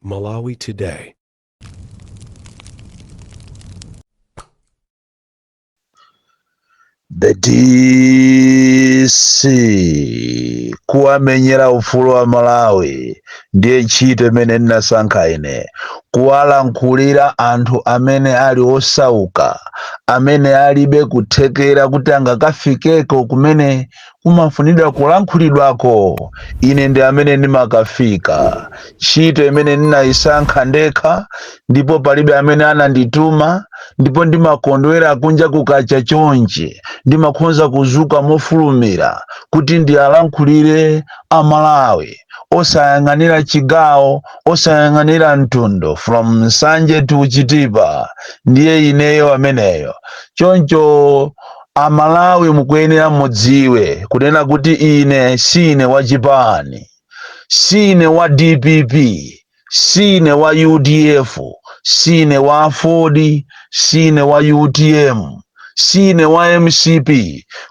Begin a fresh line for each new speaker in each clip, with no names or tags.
Malawi Today.
The DC kuwamenyera ufulu wa Malawi ndiye ntchito imene ndinasankha ine, kuwalankhulira anthu amene ali osauka, amene alibe kuthekera kuti angakafikeko kumene kumafunidwa kulankhulidwako, ine ndi amene ndimakafika. Ntchito imene ndinaisankha ndekha, ndipo palibe amene anandituma, ndipo ndimakondwera kunja kukacha chonchi, ndimakhonza kuzuka mofulumira kuti ndialankhulire a Malawi, osayang'anira chigawo, osayang'anira mtundu, from Nsanje to Chitipa, ndiye ineyo ameneyo. Choncho A Malawi mukuyenera mudziwe kunena kuti ine siine wa chipani, siine wa dpp, siine wa udf, siine wa aford, siine wa utm, siine wa mcp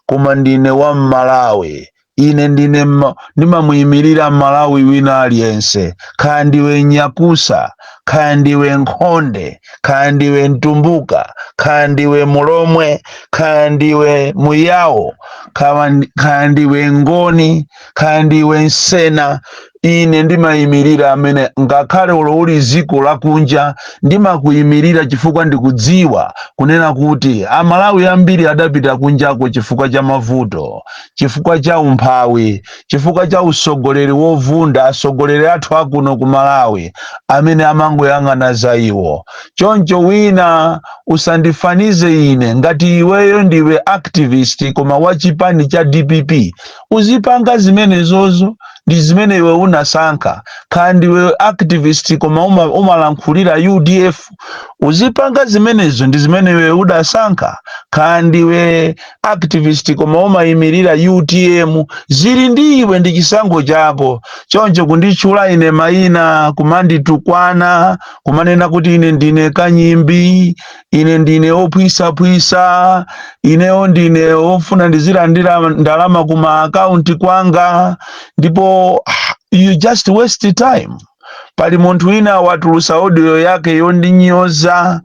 koma ndine wa Mmalawi Ine ndine ma, ndimamuyimirira Malawi wina aliyense, kaya ndiwe Nyakusa, kaya ndiwe Nkhonde, kaya ndiwe Mtumbuka, kaya ndiwe Mulomwe, kaya ndiwe Muyawo, kaya ndi- kaya ndiwe Ngoni, kaya ndiwe Nsena, Ine ndimayimirira amene, ngakhale olo uli dziko lakunja, ndimakuyimirira chifukwa ndikudziwa kunena kuti Amalawi ambiri adapita kunjako chifukwa cha mavuto, chifukwa cha umphawi, chifukwa cha utsogoleri wovunda, atsogoleri athu a kuno ku Malawi amene amangoyang'ana za iwo. Choncho wina usandifanize ine, ngati iweyo ndiwe activist koma wa chipani cha dpp, uzipanga zimenezo. ndi zimene iwe unasankha kaya ndiwe activist koma umalankhulira udf uzipanga zimenezo ndi zimene iwe udasankha kaya ndiwe activist koma umayimirira utm zili ndi iwe ndi chisankho chako choncho kunditchula ine mayina kumanditukwana kumanena kuti ine ndine kanyimbi ine ndine ophwisaphwisa ineyo ndine ofuna ndizilandira ndalama kuma akaunti kwanga ndipo you just waste time pali munthu wina watulusa audio yake yondinyoza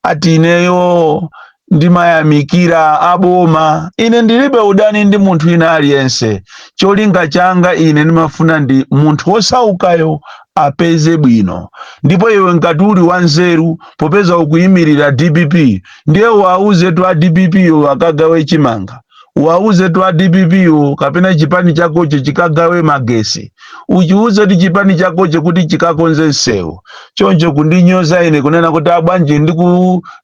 ati ineyo ndimayamikira aboma ine ndilibe udani ndi munthu ina aliyense cholinga changa ine ndimafuna ndi munthu wosaukayo apeze bwino ndipo iwe ngati uli wanzeru popeza ukuyimirira dpp ndiye uwauzetu a dpp wo akagawe chimanga uwauzetu a dpp wo kapena chipani chakocho chikagawe magesi uchiuzetu chipani chakocho kuti chikakonze msewu choncho kundinyoza ine kunena kuti ah bwanji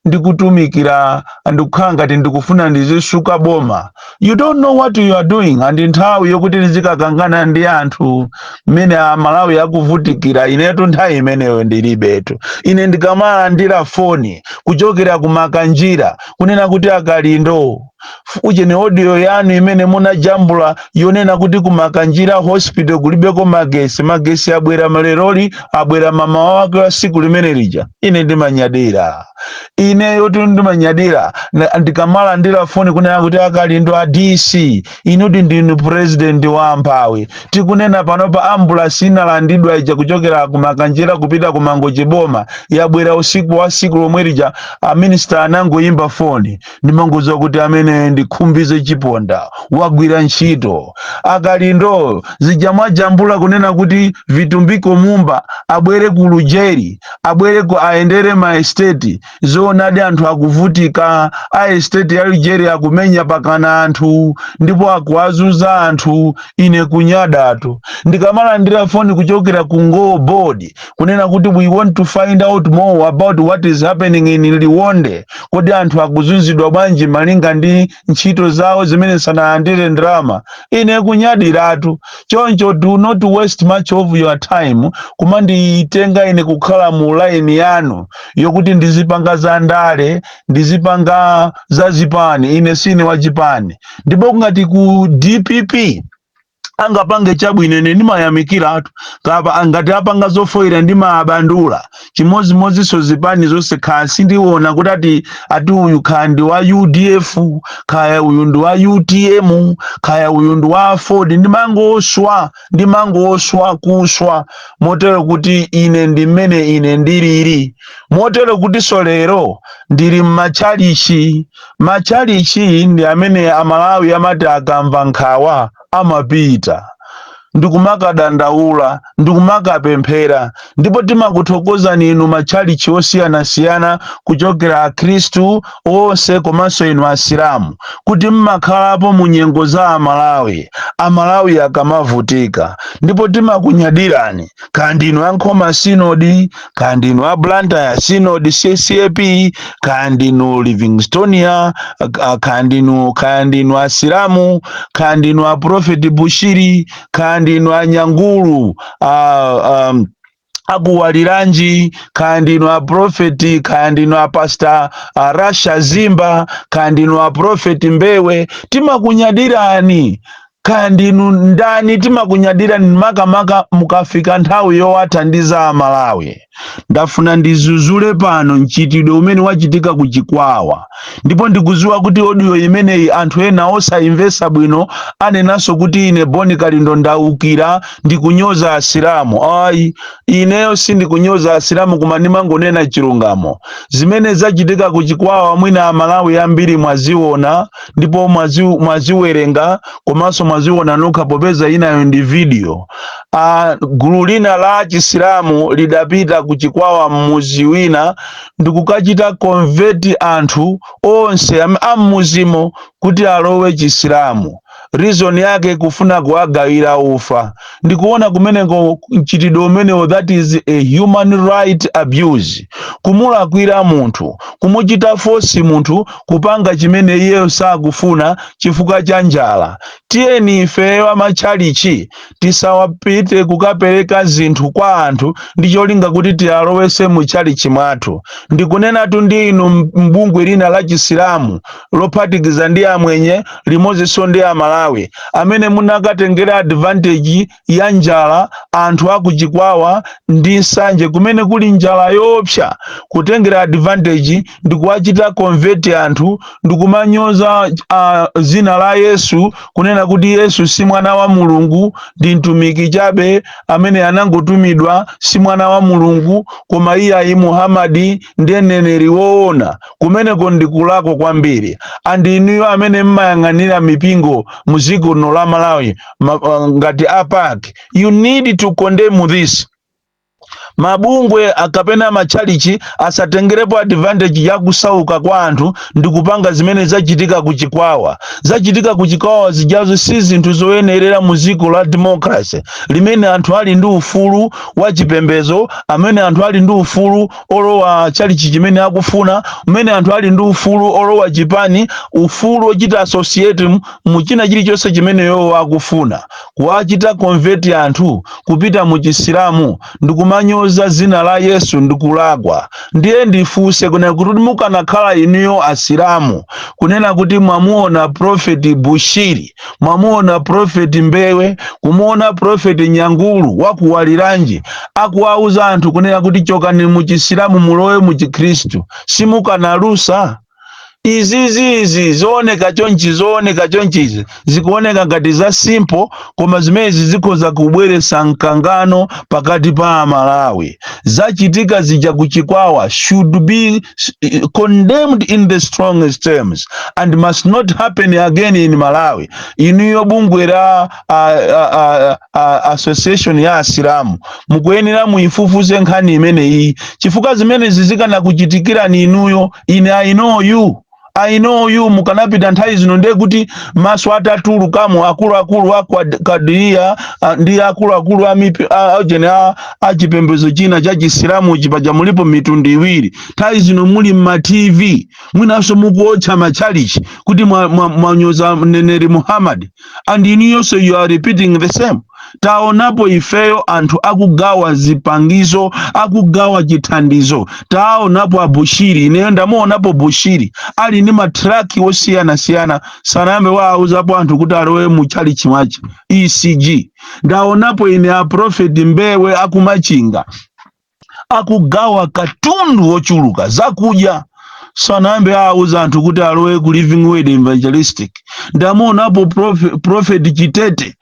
ndikutumikira ndikukhala ngati ndikufuna ndizisuka boma you don't know what you are doing and nthawi yokuti nizikakangana ndi anthu mmene amalawi akuvutikira inetu nthawi imeneyo ndilibetu ine ndikamalandira foni kuchokera ku Makanjira kunena kuti a Kalindo f- ujeni audio yanu imene munajambula yonena kuti ku Makanjira hospital kulibeko magesi magesi abwera maleloli abwera mamawa wake wa siku limene lija ine ndimanyadira ineyotu ndimanyadira na- ndikamalandira foni kunena kuti a Kalindo a dc inudi ndinu purezidenti wa amphawi tikunena panopa ambulasi inalandidwa ija kuchokera ku Makanjira kupita ku Mangochi boma yabwera usiku wa siku lomwe lija aminisita anangoyimba foni ndimangodziwa kuti amene ndi Khumbize Chiponda wagwira ntchito a Kalindo zija mwajambula kunena kuti vitumbiko mumba abwere ku lujeri abwere ku ayendere ma estate zoonadi anthu akuvutika a estate ya lujeri akumenya pakana anthu ndipo akuwazunza anthu ine kunyadatu ndikamalandira foni kuchokera ku NGO board kunena kuti we want to find out more about what is happening in liwonde kodi anthu akuzunzidwa bwanji malinga ndi ntchito zawo zimene sanalandire ndalama ine kunyadiratu choncho do not waste much of your time kumanditenga ine kukhala mu line yanu yokuti ndizipanga za ndale ndizipanga za zipani ine sine wa chipani ndipo ngati ku dpp angapange chabwino ine ndimayamikiratu kapena ngati apanga zofoyira ndimabwandula chimodzimodzinso zipani zonse kaya sindiona kuti ati ati uyu kaya ndi wa udf kaya uyu ndi wa utm kaya uyu ndi wa aford ndimangoswa ndimangoswa kuswa motero kuti ine ndi mmene ine ndilili motero kutinso lero ndili m'matchalichi matchalitchi ndi amene Amalawi amati akamva nkhawa amapita ndi kumakadandaula ndi kumakapemphera, ndipo timakuthokozani inu matchalitchi osiyanasiyana kuchokera Akhristu onse komanso inu Asilamu kuti mmakhalapo mu nyengo za Amalawi, Amalawi akamavutika, ndipo timakunyadirani, kaya ndinu a Nkhoma Sinodi, kaya ndinu a blantyre synod ccap kaya ndinu livingstonia ka- kaya ndinu kaya ndinu asilamu kaya ndinu a prophet bushiri kaya ndinu a Nyangulu a, um, akuwaliranji kaya ndinu a profeti kaya ndinu a pasta a rasha zimba kaya ndinu a profeti mbewe timakunyadirani Kaya ndinu ndani timakunyadirani makamaka mukafika nthawi yowathandiza a Malawi. Ndafuna ndidzudzule pano mchitidwe umene wachitika ku Chikwawa ndipo ndikudziwa kuti audio imeneyi anthu ena osayimvetsa bwino anenanso kuti ine Bon Kalindo ndaukira ndikunyoza asilamu ayi ineyo sindikunyoza asilamu koma ndimangonena chilungamo zimene zachitika ku Chikwawa mwina a Malawi ambiri mwaziona ndipo mwaziwerenga komanso mwaziona nokha popeza inayo ndi video a gulu lina la chisilamu lidapita ku chikwawa m'mudzi wina ndikukachita convert anthu onse am- a m'mudzimo kuti alowe chisilamu reason yake kufuna kuwagawira ufa ndikuona kumeneko mchitidwe umenewo that is a human right abuse kumulakwira munthu kumuchita force munthu kupanga chimene iyeyo sakufuna chifukwa cha njala tiyeni ifeyo amatchalichi tisawapite kukapereka zinthu kwa anthu ndi cholinga kuti tiwalowetse mu tchalichi mwathu ndikunenatu ndi inu bungwe lina la chisilamu lophatikiza ndi amwenye limodzinso ndi amalawi amene munakatengera advantage ya njala anthu aku Chikwawa ndi Nsanje kumene kuli njala yoopsa kutengera advantage ndi kuwachita convert anthu ndi kumanyoza uh, dzina la yesu kunena kuti yesu si mwana wa mulungu ndi mtumiki chabe amene anangotumidwa si mwana wa mulungu koma iyayi muhamadi ndiye mneneri woona Kumeneko ndi kulakwa kwambiri and inuyo amene mmayang'anira mipingo mu dziko lino la Malawi ma, uh, ngati a PAC you need to condemn this mabungwe a- kapena matchalichi asatengerepo advantage ya kusauka kwa anthu ndi kupanga zimene zachitika ku chikwawa zachitika ku chikwawa zijazo si zinthu zoyenerera mu dziko la democracy limene anthu ali ndi ufulu wa chipembedzo amene anthu ali ndi ufulu olowa chalichi chimene akufuna amene anthu ali ndi ufulu olowa chipani ufulu ochita associate mu- mu china chilichonse chimene iwowo akufuna kuwachita convert anthu kupita mu chisilamu ndikumanyoza dzina la yesu ndikulakwa ndiye ndifunse kunena kuti mukanakhala inuyo asilamu kunena kuti mwamuona prophet Bushiri mwamuona prophet Mbewe kumuona prophet Nyangulu wakuwaliranji akuwauza anthu kunena kuti chokani muchisilamu mulowe muchikhristu simukanalusa izizi izi zooneka chonchi zooneka chonchizi zikuoneka ngati za simple koma zimenezi zikhoza kubweretsa mkangano pakati pa amalawi zachitika zija ku chikwawa should be eh, condemned in the strongest terms and must not happen again in malawi inuyo bungwe la a, a, a, a, association ya asilamu mukuyenera muifufuze nkhani imeneyi chifukwa zimenezi zikanakuchitikirani inuyo ine i know you I know you mukanapita nthawi zino ndiye kuti maso atatulukamo akuluakulu a Kwad- kadiriya ah, ndi akuluakulu a mipi- a- a- chene a- a chipembedzo china cha chisilamu chipaja mulipo mitundu iwiri nthawi zino muli mma tv mwinanso mukuotcha matchalichi kuti mwanyoza mwa, mwa mneneri muhammad and inuyonso you are repeating the same taonapo ifeyo anthu akugawa zipangizo akugawa chithandizo taonapo abushiri ineyo ndamuonapo bushiri ali ndi matraki osiyanasiyana sanayambe waauzapo anthu kuti alowe mu chalichi mwache ecg ndaonapo ine aprofeti mbewe akumachinga akugawa katundu wochuluka zakudya sanayambe wauza anthu kuti alowe ku living word evangelistic ndamuonapo prof- prophet chitete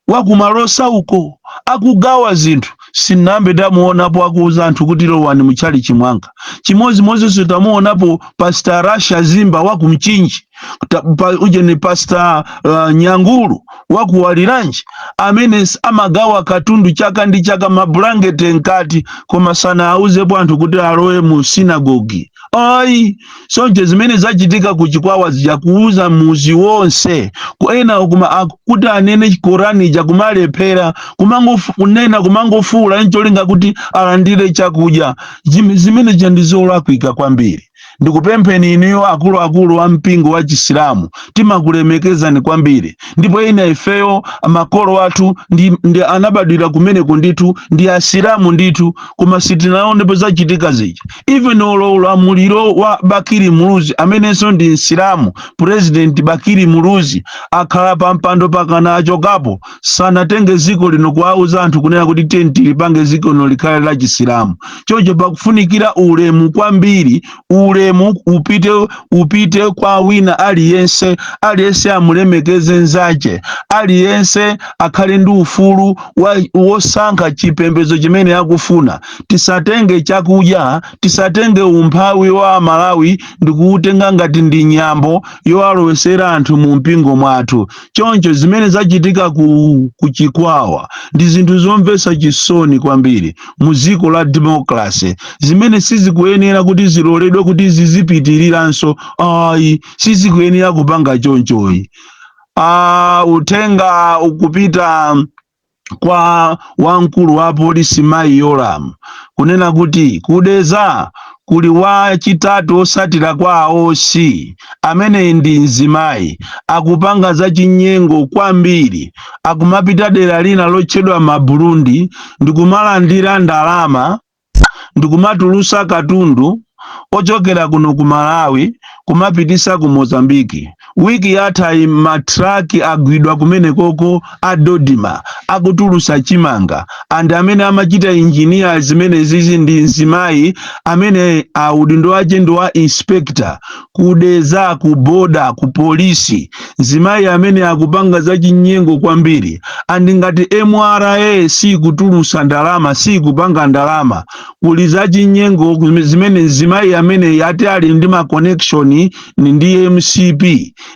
wakumalosa uko akugawa zinthu sinambe ndamuonapo akuuza anthu kuti lowani mutchalichi mwanga chimodzimodzinso tamuonapo pastor rasha zimba wakumchinji Ta- pa- uje ni pasta uh, nyangulu wakuwaliranji amene s- amagawa katundu chaka ndi chaka mabulangete mkati koma sanauzepo anthu kuti alowe mu sinagogi ayi choncho zimene zachitika ku chikwawa zija kuuza muzi wonse ku ena kuma aku- kuti anene korani ija kumalephera kumangofu- kunena kumangofuula ncholinga kuti alandire chakudya Zim- zimene zija ndi zolakwika kwambiri ndikupempheni inuyo akuluakulu a mpingo wa chisilamu timakulemekezani kwambiri ndipo ina ifeyo makolo athu ndi, ndi anabadwira kumeneko ndithu ndi asilamu ndithu koma sitinaonepo zachitika zija even olo ulamuliro wa bakiri muluzi amenenso ndi msilamu president bakiri muluzi akhala pa mpando pakana achokapo sanatenge ziko lino kuwauza anthu kunena kuti tiyeni tilipange ziko lino likhale la chisilamu choncho pakufunikira ulemu kwambiri ulemu upite upite kwa wina aliyense aliyense amulemekeze nzache aliyense akhale ndi ufulu wa- wosankha chipembedzo chimene akufuna tisatenge chakudya tisatenge umphawi wa amalawi ndikuutenga ngati ndi nyambo yowalowesera anthu mu mpingo mwathu choncho zimene zachitika ku, ku chikwawa ndi zinthu zomvetsa chisoni kwambiri mu dziko la demokrase zimene sizikuyenera kuti ziloledwe kuti zizipitiriranso ayi sizikuyenera kupanga chonchoyi uh, uthenga ukupita kwa wamkulu wa polisi mayi Yolamu kunena kuti ku Deza kuli wachitatu osatira kwa a OC amene ndi mzimayi akupanga zachinyengo kwambiri akumapita dera lina lotchedwa maburundi ndikumalandira ndalama ndikumatulusa katundu ochokera kuno ku malawi kumapitisa ku mozambiki wiki yathayi ma traki agwidwa kumenekoko a dodima akutulusa chimanga and amene amachita injiniya zimenezizi ndi mzimayi amene uh, udindo wache ndi wa inspector ku Deza ku boda ku polisi mzimayi ameneyu akupanga zachinyengo kwambiri andi ngati mra sikutulusa ndalama sikupanga ndalama kuli zachinyengo kume- zimene mzimayi ameneyu ati ali ndi ma connections ndi mcp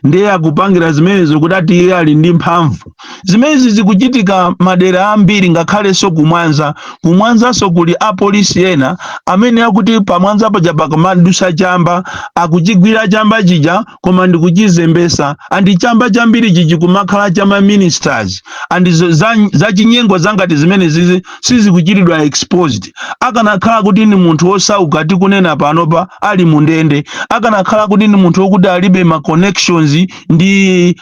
ndiye akupangira zimenezo kuti ati iye ali ndi mphamvu zimenezi zikuchitika madera ambiri ngakhalenso ku Mwanza ku Mwanzanso kuli apolisi ena amene akuti pa Mwanza paja pakamadusa chamba akuchigwira chamba chija koma ndikuchizembesa andi chamba chambiricho chija kumakhala cha ma ministers andi zo- za- zachinyengo zangati zimenezizi sizikuchitidwa exposed akanakhala kuti ndi munthu wosauka tikunena panopa ali mundende akanakhala kuti ndi munthu wokuti alibe ma connections ndi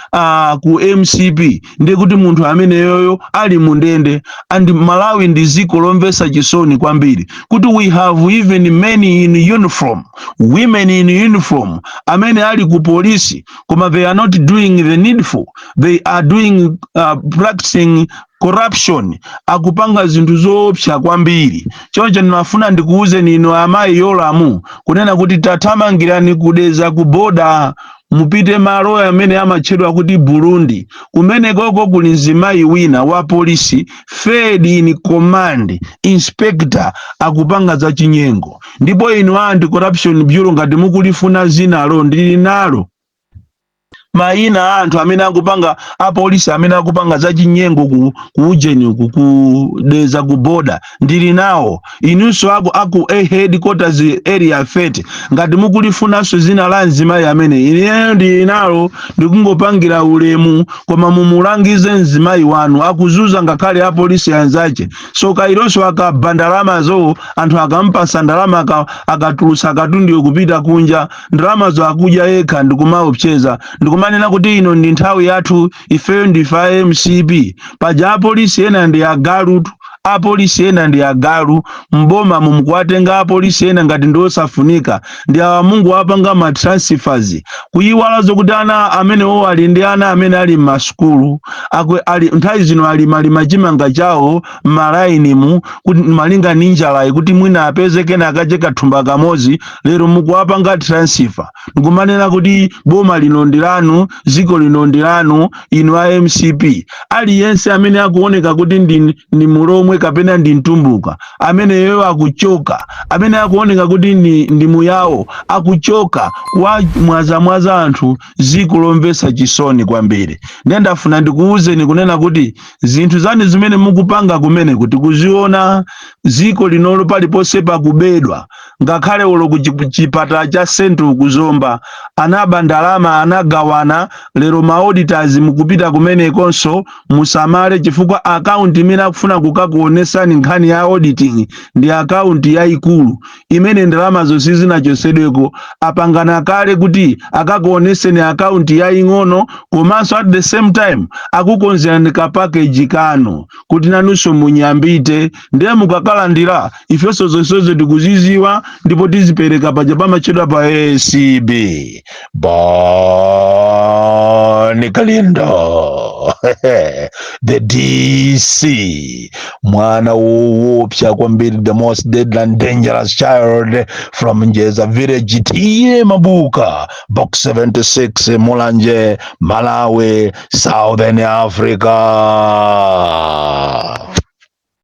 ku mcp ndiye kuti munthu ameneyoyo ali mu ndende and malawi ndi dziko lomvetsa chisoni kwambiri kuti we have even men in uniform women in uniform amene ali ku polisi koma they are not doing the needful they are doing uh, practicing corruption akupanga zinthu zoopsa kwambiri choncho ndimafuna ndikuwuzeni inu amayi yolamu kunena kuti tathamangirani ku Deza ku boda mupite malo amene amatchedwa kuti burundi kumenekoko kuli mzimayi wina wa polisi third in command inspector akupanga za chinyengo ndipo inu anti corruption bureau ngati mukulifuna zinalo ndili nalo mayina a anthu amene akupanga apolisi amene akupanga zachinyengo ku, ku ujeni uku ku deza ku boda ndili nawo inunso aku headquarters area 30 ngati mukulifunanso zina la mzimayi ameneyu ineyo ndili nalo ndikungopangira ulemu koma mumulangize mzimayi wanu akuzuza ngakhale apolisi anzache so kailonso akaba ndalamazo anthu akampasa ndalama aka- akatulutsa akatundiwe kupita kunja ndalamazo akudya yekha ndikumaopseza
ndikumanena kuti ino ndi nthawi yathu ifeyo ndife a mcp paja apolisi ena ndi agalutu apolisi ena ndi agalu mboma mumkuwatenga apolisi ena ngati ndi osafunika ndi awa mungu apanga ma transfers kuyiwala zokuti ana amenewo ali ndi ana amene ali m'masukulu nthawi zino alimalima chimanga chawo m'malainimu kuti malinga ndi njalayi kuti mwina apeze kena akache kathumba kamodzi lero mukuwapanga transfer ndikumanena kuti boma lino ndi lanu dziko lino ndi lanu inu a mcp aliyense amene akuoneka kuti ndi, ndi mulomwe kapena ndi mtumbuka ameneyo akuchoka amene akuoneka kuti ndi, ndi muyawo akuchoka kuwamwazamwaza anthu dziko lomvetsa chisoni kwambiri ndiye ndafuna ndikuwuzeni kunena kuti zinthu zanu zimene mukupanga kumene kuti kuziona dziko linolo paliponse pakubedwa ngakhale olo ku chipatala cha central ku zomba anaba ndalama anagawana lero ma auditors mukupita kumenekonso musamale chifukwa akaunti imene akufuna kukakuonesani nkhani ya auditing ndi akaunti yayikulu imene ndalama zonse zinachosedweko apangana kale kuti akakuoneseni akaunti yaying'ono komanso at the same time akukonzerani ka package kanu kuti nanunso munyambite ndiye mukakalandira ifenso zonsezo tikuziziwa ndipo tizipereka paja pamatchedwa pa acb bon kalindo the dc mwana woopsa kwambiri the most deadly and dangerous child from njeza village t/a mabuka box 76 mulanje malawi southern africa